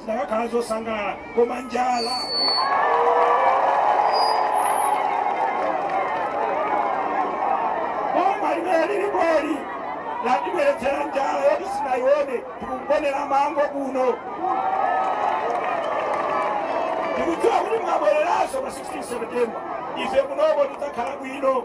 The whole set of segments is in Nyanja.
zinakakhala zosangalala koma njala boma limene lili bweli latibweretsera njala yoti sinayione tikugonera mango kuno tikudziwa kuti mukabwereranso pa 16 september ife kunoko tidzakhala bwino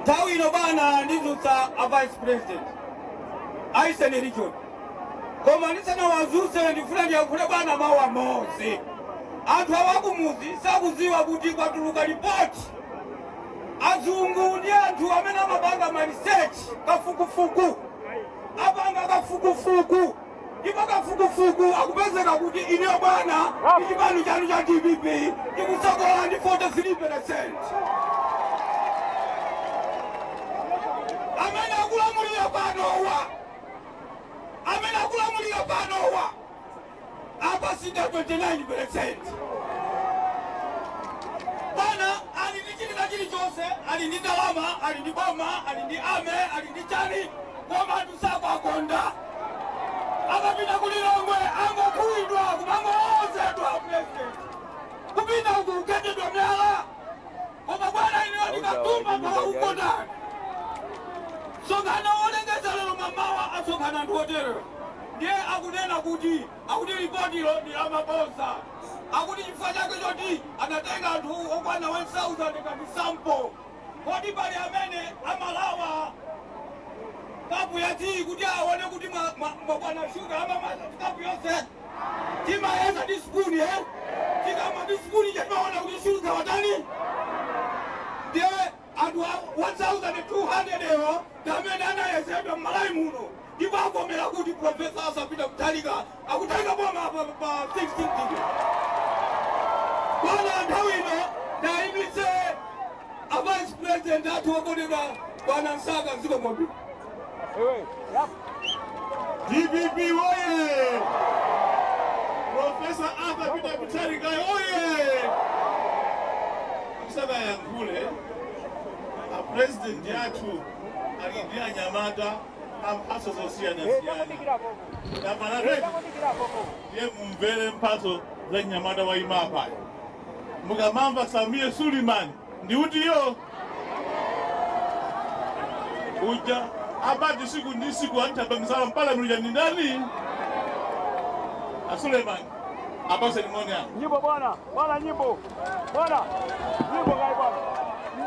Nthawi ino bwana ndidzutsa a vice president a Eastern region koma ndisanawadzutse ndifuna ndiyankhule bwana mawu amodzi. Anthu awakumuzi sakudziwa kuti kwatuluka lipoti azungu ndi anthu amene amapanga ma research kafukufuku apanga kafukufuku ndipo kafukufuku akupezeka kuti inuyo bwana ndi chipani chanu cha dpp chikutsogola ndi 43 percent amene akulamulira panowa amene akulamulira panowa a MCP 29 percent bwana ali ndi china chilichonse ali ndi ndalama ali ndi boma ali ndi army ali ndi chani koma Sakuwakonda akapita ku Lilongwe angokuwidwa kumangolowozedwa a president kupita uku kugendedwa myala koma bwana inuyo ndi katumba anthu akukukondani. Msonkhano wolengeza lero mamawa asonkhana anthu oterewa ndiye akunena kuti akuti lipotilo ndi lamabodza akuti chifukwa chake choti anatenga anthu okwana 1000 ngati sample Kodi pali amene amalawa kapu ya tiyi kuti aone kuti mwakwana shuga? Amamwa kapu yonse? Timayeza ndi sipuni e, tikamwa ndi sipuni ija timaona kuti shuga watani. Ndiye anthu 1200 awo ndi amene anayezedwa m'Malawi muno. ndipo avomera kuti Prof. Arthur Peter Mutharika akutenga boma pa 16 September. Bwana, nthawi ino ndaimitse a Vice President athu okondedwa Bwana Msaka dziko lonse. DPP woye! Profesa Arthur Peter Mutharika woye! Musanayankhule a president athu ali ndi anyamata a mphatso zosiyanasiyana tamanapeza ndiye mumvere mphatso za mnyamata wa imapa mukamamva Sameer Suleiman ndi uti iyo uja abati siku ndi siku anthu amisala mpala mlija ndi ndani a Suleiman apatseni moni apo Nyimbo bwana, bwana nyimbo.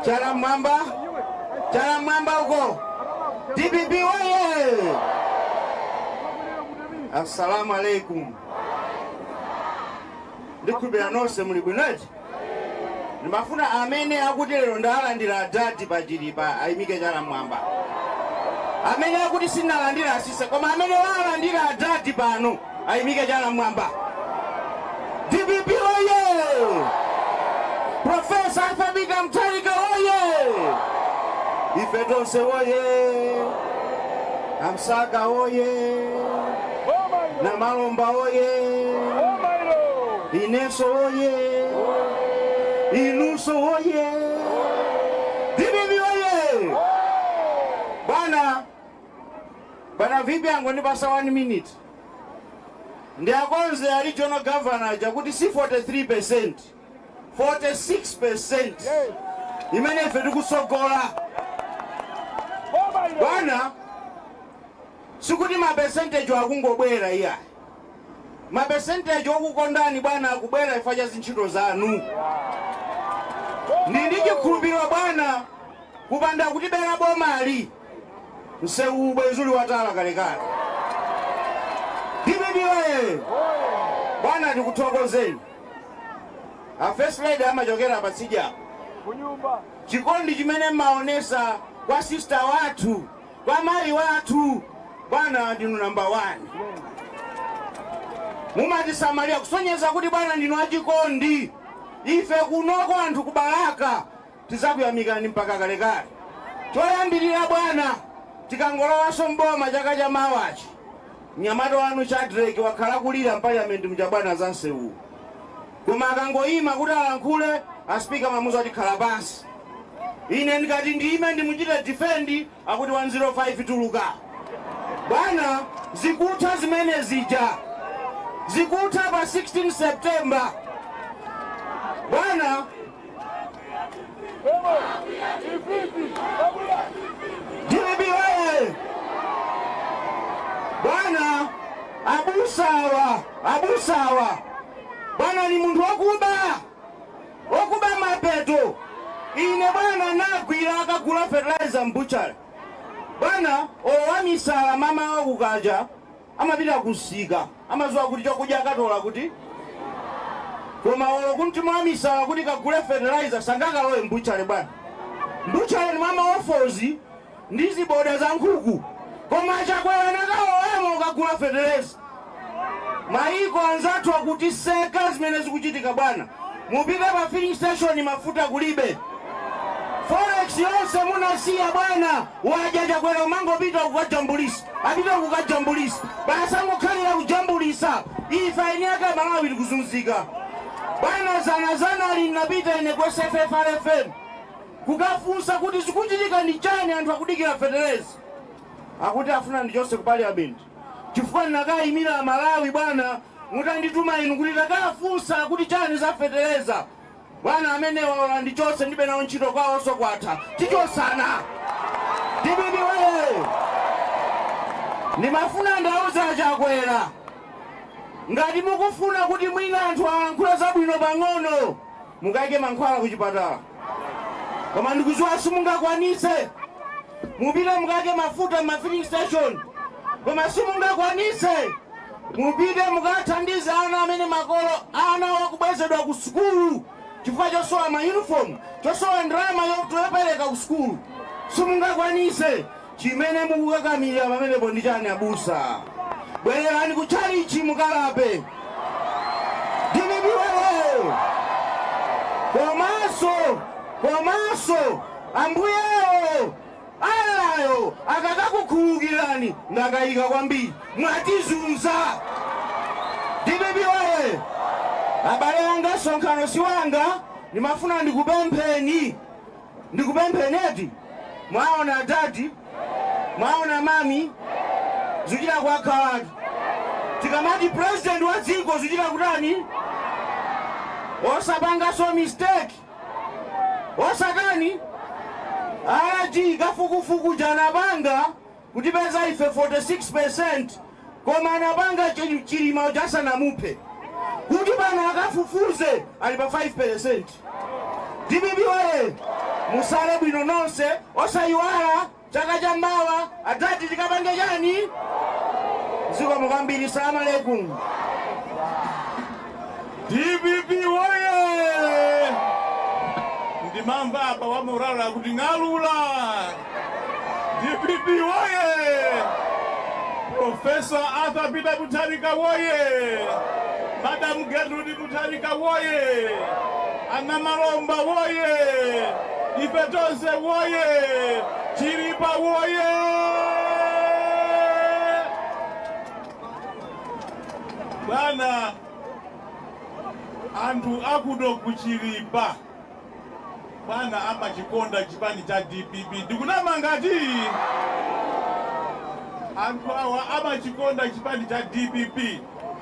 Chala mwamba, chala mwamba huko. DPP oye! Assalamu alaikum. Ndikhulupirira nonse muli bwinoji? Ndimafuna amene akuti lero ndalandira adadi pa Chilipa ayimike chala mwamba. Amene akuti sinalandira atsitse koma amene walandira adadi pano ayimike chala mmwamba. Dpp woyee! Profesa Arthur Peter Mutharika woyee! Ife tonse woyee! Amsaka woyee! Namalomba woyee! Ineso woyee! Inuso woyee! Bwana VP angondipasa 1 minute ndiakonze a regional governor aja kuti si 43%, 46% imene ife tikutsogola. Bwana, sikuti ma percentage akungobwera iyayi. Ma percentage okukondani bwana akubwera chifukwa cha zintchito zanu. Ndili ndi chikhulupiriro bwana kupanda kutibera bomali Mseuwu bwenzi uli watala kalekale. Dpp oye! Bwana, tikuthokozeni. A First Lady amachokera patsidya apo kunyumba. Chikondi chimene mmaonesa kwa sister wathu, kwa mayi wathu, bwana ndinu number one. Mumatisamalira kusonyeza kuti bwana ndinu achikondi. Ife kunoko anthu ku Balaka Tidzakuyamikani mpaka kalekale. Choyambirira bwana, tikangolowanso m'boma chaka cha mawachi, mnyamata wanu Shadreck wakhala akulira m'paliyamenti muja bwana za nsewuwu. Koma akangoima kuti alankhule, a Speaker amamuuza kuti khala pansi. Ine ndikati ndiime ndimuchite defend, akuti 105 tuluka. Bwana, zikutha zimene zija. Zikutha pa 16 September. Bwana. Dpp oye! Bwana abusawa, abusawa, bwana ni munthu wakuba, wakuba mapeto. Ine bwana nagwira akagula fertilizer mbuchale bwana olo wamisala mama wa ku Kaja Amapita ku msika, amaziwa kuti chokudya akatola kuti? Koma olo kuti wamisala kuti kagule fertilizer sangakalowe m'butchery bwana? M'butchery ndi mwa ma offals ndi ziboda za nkhuku koma a Chakwera anakalowamo kukagula fetereza? Mayiko anzathu akutiseka zimene zikuchitika bwana. Mupite pa filling station mafuta kulibe. Forex yonse munasiya bwana, wadya Chakwera kumangopita kukajambulitsa. apite kukajambulisa basi angokhalila kujambulisa ife eni ake amalawi tikuzunzika bwana zana zanali nnapita ine ku sffrfm kukafunsa kuti zikuchitika ndi chani anthu akudikila feteleza akuti afuna andichose ku parliament chifukwa nnakayimila amalawi bwana mutanditumapo inu kuti takafunsa akuti chani za feteleza Bwana amenewa olo andichose ndibe nawo ntchito kwawoso kwatha tichosana dpp woyee ndimafuna ndauze achakwera ngati mukufuna kuti mwina anthu alankhule zabwino pang'ono mukaike mankhwala kuchipatala koma ndikuziwa simungakwanise mupite mukaike mafuta m'mafilling station koma simungakwanise Mupite mukawathandize ana amene makolo anawo akubwezedwa ku sukulu chifukwa chosowa ma uniform, chosowa ndalama yopereka ku sukulu. Simungakwanise. Chimene mukukakamira pamenepo ndi chani abusa? Bwererani ku tchalitchi mukalape. Dpp woyee! Komanso komanso Ambuyewo! Allah yo akakakukhululukirani ndakaika kwambiri mwatizunza dpp woye abale anga msonkhano si wanga ndimafuna ndikupempheni ndikupempheni eti mwaona dadi mwaona mami zuchita kwakhalatu tikamati president wa dziko zuchita kutani osapangaso mistake Osatani? Alhaji kafukufuku uja anapanga kutipeza ife 46% koma anapanga chilima uja asanamuphe kuti pano akafufuze ali pa 5% dpp woye musale bwino nonse osayiwala Chaka cha mawa adzati tikapange chani? Zikomo kwambiri. Salamu alaikum. DPP woye! Ndimamva apa wa moralo akuti ng'alula. DPP woye! Profesa Arthur Peter Mutharika woye! Madam Gertrude Mutharika woyee! A Namalomba woyee! Ife tonse woyee! Chilipa woyee! Bwana, anthu akuno ku Chilipa. Bwana amachikonda chipani cha dpp ndikunama ngati? Anthu awa amachikonda chipani cha dpp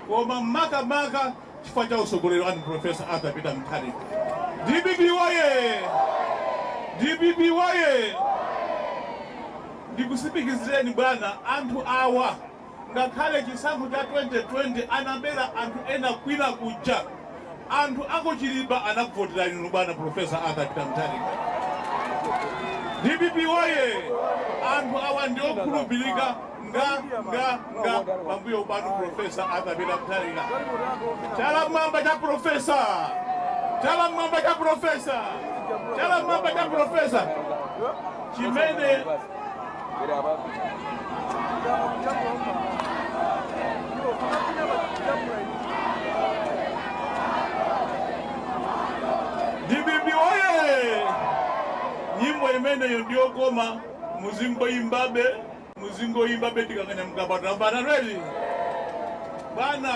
koma makamaka chifukwa cha utsogoleri wanu Professor Arthur Peter Mutharika. Dpp woye! Dpp woye! Ndikusimikizireni bwana, anthu awa Ngakhale chisankho cha 2020 anabera anthu ena kwina kuja, anthu a ku Chilipa anakuvoterani inu bwana Prof. Arthur Peter Mutharika. Dpp woye! Anthu awa ndi okhulupirika nga nga nga pambuyo panu Prof. Arthur Peter Mutharika. Chala m'mwamba cha Prof. Chala m'mwamba cha Prof. Chala m'mwamba cha Prof. Chimene dpp woye nyimbo imeneyo ndiyokoma muzingoyimbabe muzingoyimbabe tikakanya mkapata mbananweli bwana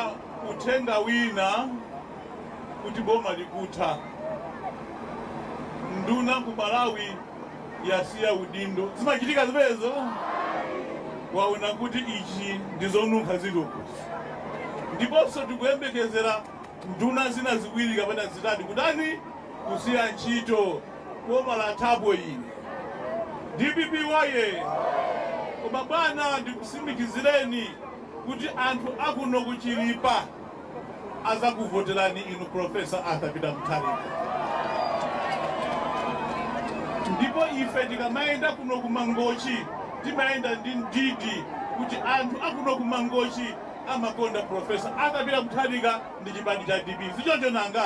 uthenga wina kuti boma likutha nduna ku malawi yasiya udindo zimachitika zimenezo waona kuti ichi ndi zonunkha zilipo ndiponso tikuyembekezera nduna zina ziwiri kapena zitatu kutani kusiya ntchito boma lathapo ili dpp woye koma bwana ndikusimikizireni kuti anthu akuno kuchilipa azakuvotelani inu Professor Arthur Peter Mutharika. Ndipo ife tikamayenda kuno ku Mangochi timayenda ndi mdidi kuti anthu akuno ku Mangochi amakonda Professor Arthur Peter Mutharika ndi chipani cha DPP. Sichoncho nanga?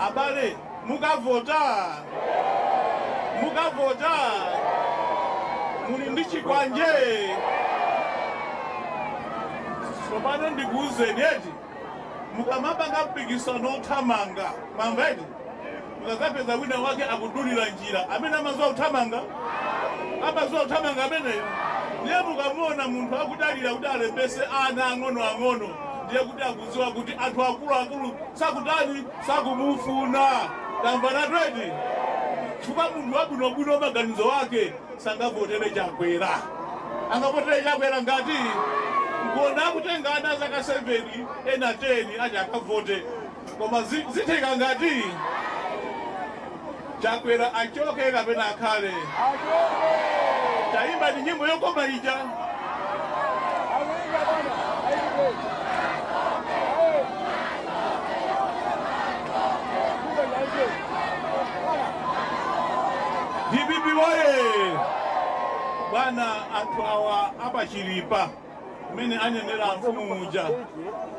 Abale, mukavota mukavota muli ndi chikwanje tsopano ndikuwuzeni eti mukamapanga mpikisano othamanga mamva eti mukakapeza wina wake akudulira njira amene amaziwa kuthamanga amaziwa kuthamanga ameneyo ndiye mukamuona munthu akudalira kuti alembese ana ang'ono ang'ono ndiye kuti akuziwa kuti anthu akuluakulu sakutani sakumufuna. Tamvanatu eti? Chifukwa munthu wabwinobwino wa maganizo ake sangavotere Chakwera. Angavotere Chakwera ngati? Nkuona akutenga ana a zaka 7 ena 10 ati akavote. Koma zi- zitheka ngati Chakwera achoke kapena akhale? Tayimbani nyimbo yokoma ija. Dpp woye! Bwana anthu awa a pa Chilipa. mmene anenera amfumu muja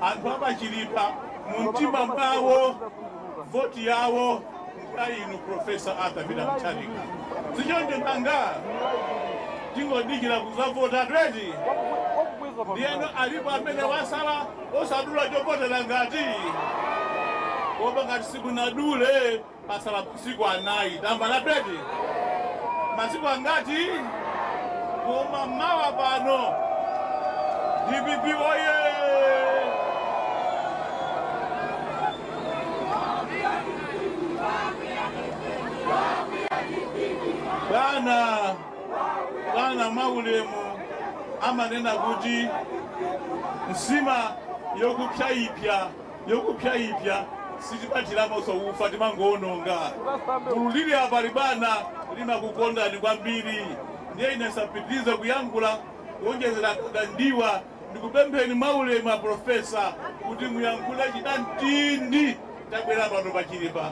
anthu a pa Chilipa mu mtima mwawo voti yawo kwa inu profesa arthur peter mutharika si choncho nanga tingodikira kuzavota tweti ndiyeno alipo amene wasala osadula chovotera ngati koma ngati simunadule Patsala masiku anayi tamba la bedi masiku angati koma mawa pano dpp oye bwana bwana mwaulemu amanena kuti nsima yokupyaipya yokupyaipya sitipatiramonso ufa timangoononga. Gulu lili apa ili bwana limakukondani kwambiri ndiye ine nsapitilize kuyankhula kuonjezera za ndiwo ndikupempheni mwaulemu a Professor kuti muyankhule chinamtindi chabwera pano pa Chilipa.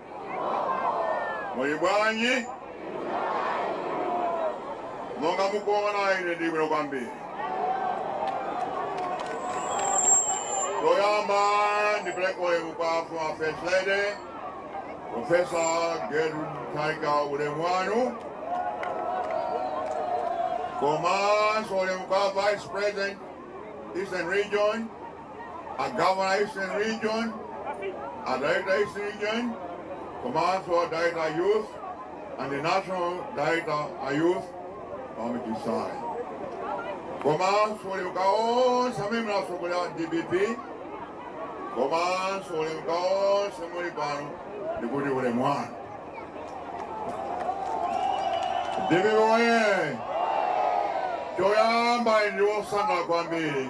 Muli bwanji? Monga mukuona, ine ndili bwino kwambiri. Choyamba ndipereke ulemu kwa Former First Lady Profesa Gertrude Mutharika, ulemu wanu, komanso ulemu kwa Vice President Eastern Region a Governor Eastern Region, a director Eastern Region, komanso a director youth and the national director a youth a Mchacha komanso ulemu kwa onse amene mukutsogolera dpp komanso ulemu kwa onse muli pano ndikuti ulemu wanu dpp oye choyamba ndine wosangalala kwambiri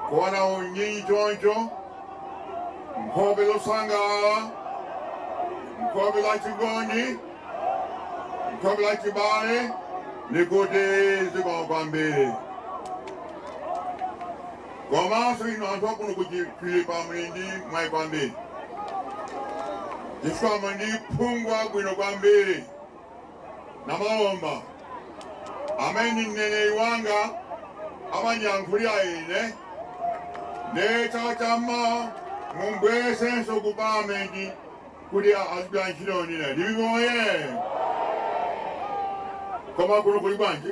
Kuona unyinji choncho, nkhope zosangalala, nkhope za chikondi, nkhope za chibale, ndikuti zikomo kwambiri. Komanso inu anthu akuno ku Chilipa muli ndi mwayi kwambiri, chifukwa muli ndi phungu wabwino kwambiri. namalomba amene ndi mneneri wanga amandiyankhulira ine nde chaka cha mawa mumbwezenso ku palamenti kuti azigwira ntchito ndi ine dpp oye koma kuno kuli bwanji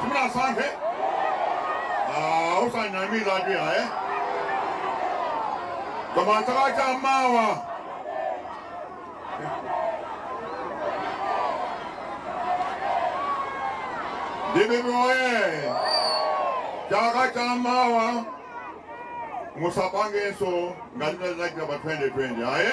simunasankhe Ah, osanamiza ati ayi koma chaka cha mawa dpp oye chaka cha mawa musapangenso ngati tazachita pa 2020 ayi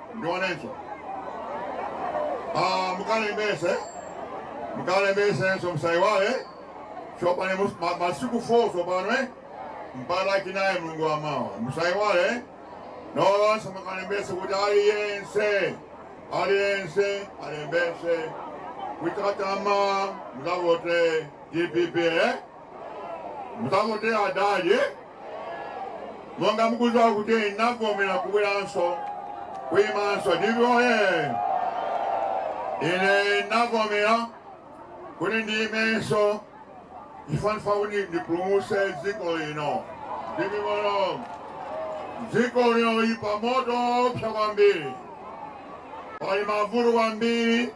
ndionenso Ah, mukalembese mukalembesenso musaiwale chopane mus- ma- masiku 4 tsopano eh? mpaka lachinayi mulungu wa mawa musaiwale eh? nonse mukalembese kuti aliyense aliyense alembese kuti chaka cha mawa muzavote dpp eh? muzavote adadi eh? monga mukuziwa kuti ndinavomera kubweranso kuyimanso dpp oye ine ndinavomera kuti ndiyimenso chifukwa ndifuna kuti ndipulumutse dziko lino dpp moto dziko lino lili pa moto opsa kwambiri pali mavuto kwambiri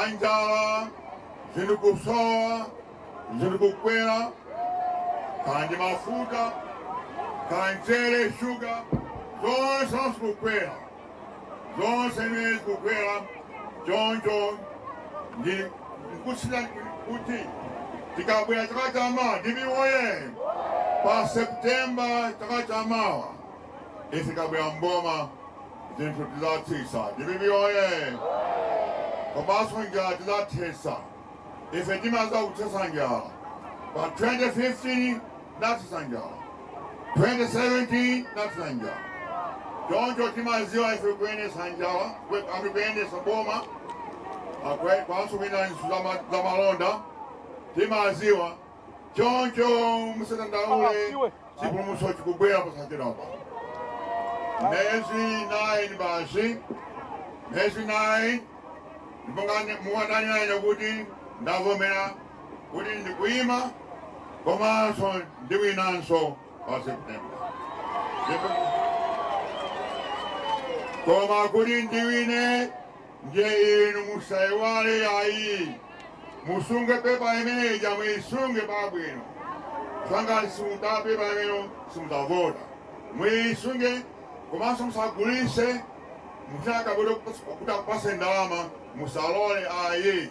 anjala zinthu kusowa ziri kukwera kaya ndi mafuta kaya mchere shuga zonse zonse kukwera zonse zimene zikukwera choncho ndi nkusira kuti tikabwera chaka cha mawa dpp oye pa septemba chaka cha mawa ife tikabwera mboma zinthu tizatsitsa dpp oye komanso njala tizathetsa ife timaziwa kuthetsa njala pa 2015 nathetsa njala 2017 nathetsa njala choncho timaziwa ife kuyendesa njala I mean kuyendesa boma akwe- komanso kuyendanso za malonda timaziwa choncho musadandaule chipulumutso chikubwera posachedwapa miyezi 9 basi miyezi 9 ndipo ngati muwadanirane kuti ndavomera kuti ndikuima komanso ndiwinanso pa september Ndipo- koma kuti ndiwine ndiye inu musaiwale ayi musunge pepa imene ija muisunge pabwino chifukwa simutenga pepa imeneyo simukavota muisunge komanso musagulise mukati kuti akupatseni ndalama musalole ayi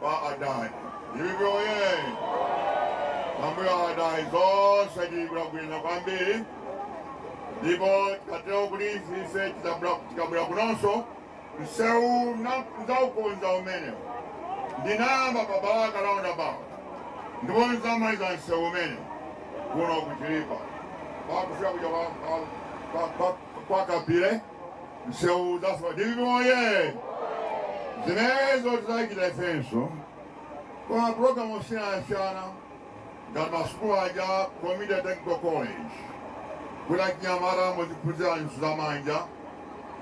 kwa adadi DPP oye pambuyo pa adadi zonse zikhala bwino kwambiri ndipo tikatero kuti ife tikabwera kunonso msewu ndzaukonza umenewo ndinayamba pa balaka roundabout ndipo ndzamaliza msewu umenewo kuno kuchilipa pakufika kuja kwa- kwa- kwa- kwa- kwa kapile msewu udzatha dpp oye zimenezo tidzachita ifenso ma programu osiyanasiyana ngati masukulu aja community technical college kuti achinyamata aziphunzira ntchito za manja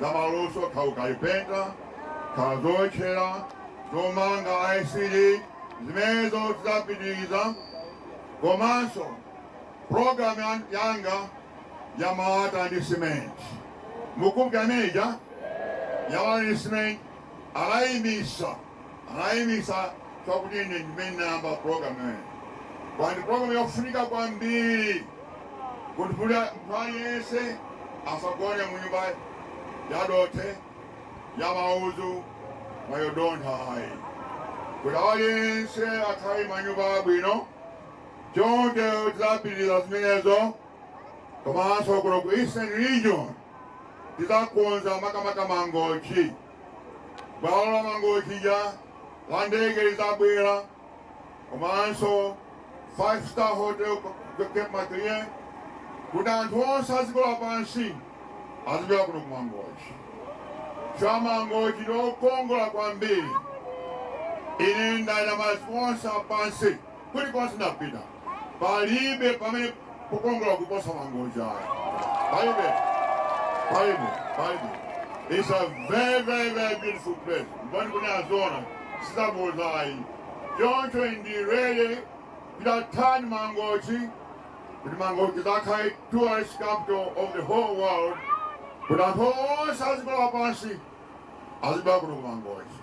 za maluso kaya ukalipenta kaya zowotcherera zomanga ICT zimenezo tidzapitiriza komanso Program yan, yanga ya malata ndi simenti mukumbuka imene ija ya malata ndi simenti anayimitsa anayimitsa chonsecho ine ndimene ndinayamba program imene kwa ine ndi program yofunika kwambiri kuti kuti munthu aliyense asagone mu nyumba yadothe ya mauzu yodontha ayi kuti aliyense akhale manyumba abwino Choncho tidzapitiriza zimenezo komanso kuno ku Eastern Region tidzakonza makamaka Mangochi. Bwalo la Mangochi lija la ndege lidzabwera komanso five star hotel Cape Maclear kuti anthu onse a dziko lapansi azibwera kuno ku Mangochi. Chifukwa Mangochi ndi okongola kwambiri. Ine ndayenda maiko onse apansi kulikonse ndapita palibe pamene pakukongola kuposa mangochi ayi palibe palibe palibe It's a very, very, very beautiful place. Mboni kuno aziona, sizaboza ayi. Choncho ife tidzatani mangochi kuti mangochi idzakhale tourist capital of the whole world kuti anthu onse a dziko lapansi azibwera kuno kumangochi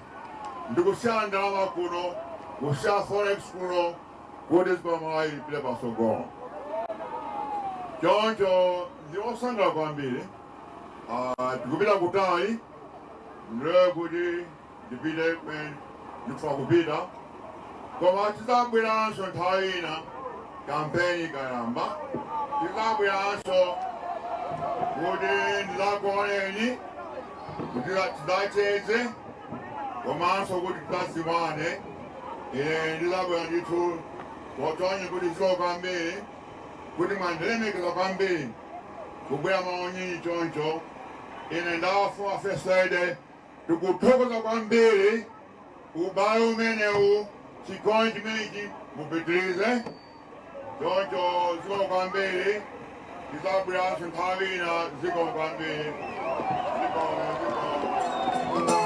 ndikusiya ndalama kuno kusiya forex kuno kuti dziko la Malawi lipite patsogolo choncho ndili osangala kwambiri Ah, tikupita kutali ndiye kuti ndipite kumene ndikufuna kupita koma tidzabweranso nthawi ina kampeni ikayamba tidzabweranso kuti ndidzakuoneni kuti tidzacheze komanso kuti tidzadziwane ine ndidzabwera ndithu potonya kuti zikomo kwambiri kuti mwandilemekeza kwambiri kubwera maunyinji choncho ine ndi a First Lady Tikuthokoza kwambiri ubale umenewu, chikondi chimenechi mupitirize choncho. Zikomo kwambiri, tidzabweranso nthawi ina. Zikomo kwambiri, zikomo, zikomo.